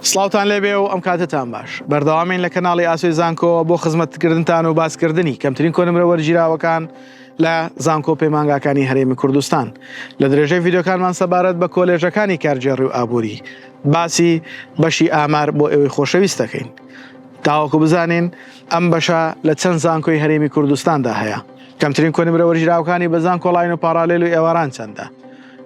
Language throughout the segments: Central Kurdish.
سڵاوتان لێبێ و ئەم کاتەتان باش. بەردەوامین لە کەناڵی ئاسۆی زانکۆوە بۆ خزمەتکردنتان و باسکردنی کەمترین کۆنمرە وەرگیراوەکان لە زانکۆ و پەیمانگاکانی هەرێمی کوردستان. لە درێژەی ڤیدیۆکانمان سەبارەت بە کۆلێژەکانی کارگێڕی و ئابووری باسی بەشی ئامار بۆ ئێوەی خۆشەویست دەکەین تاوەکو بزانین ئەم بەشە لە چەند زانکۆی هەرێمی کوردستاندا هەیە. کەمترین کۆنمرە وەرگیراوەکانی بە زانکۆلاین و پاڕالێل و ئێواران چەندە؟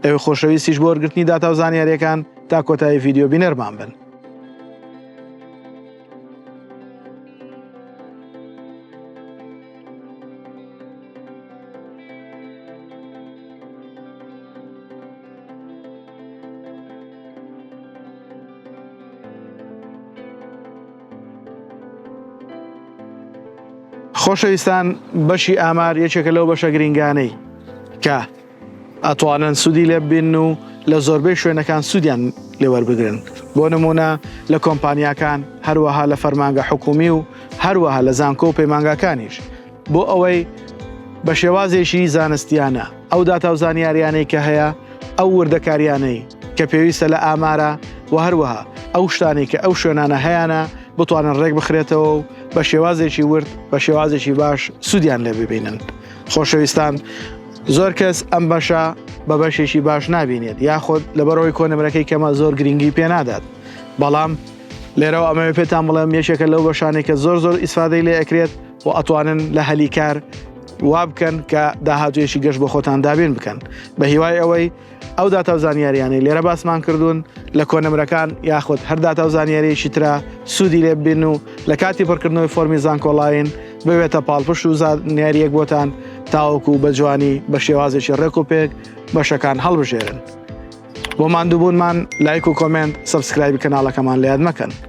ئێوەی خۆشەویستیش بۆ وەرگرتنی داتا و زانیارییەکان، تا کۆتایی ڤیددیو بینەرمان بن. خۆشەویستان بەشی ئامار یەکێکە لەو بەشە گرنگانەی کە ئەتوانن سوودی لێ ببینن و لە زۆربەی شوێنەکان سوودیان لێ وەربگرن، بۆ نموونە لە کۆمپانیاکان، هەروەها لە فەرمانگە حکوومی و هەروەها لە زانکۆ و پەیمانگاکانیش، بۆ ئەوەی بە شێوازێکی زانستییانە ئەو داتا و زانیارییانەی کە هەیە، ئەو وردەکارییانەی کە پێویستە لە ئامارە و هەروەها ئەو شتانەی کە ئەو شوێنانە هەیانە بتوانن ڕێک بخرێتەوە و بە شێوازێکی ورد، بە شێوازێکی باش سوودیان لێ ببینن. خۆشەویستان! زۆر کەس ئەم بەشە بە بەشێکی باش نابینێت یاخود لەبەرەوەی کۆنمرەکەی کەمە زۆر گرنگی پێ نادات بەڵام لێرەوە ئەمەوێ پێتان بڵێم یەکێکە لەو بەشانێک کە زۆر زۆر ئیسفادەی لێ ئەکرێت و ئەتوانن لە هەلی کار وا بکەن کە داهاتوێشی گەشت بە خۆتان دابین بکەن بە هیوای ئەوەی ئەو داتا و زانیاریانەی لێرە باسمان کردوون لە کۆنمرەکان یاخود هەر داتا و زانیاریەکی تررا سوودی لێ ببین و لە کاتی پڕکردنەوەی فۆمی زانکۆڵین ببێتە پاڵپشت و زانیاریەک بۆتان تاوەکو بە جوانی بە شێوازێکی ڕێک و پێک بەشەکان هەڵبژێرن بۆ مادووبوونمان لایک و کۆمنت سبسکرایبی کەناڵەکەمان لە یاد مەکەن.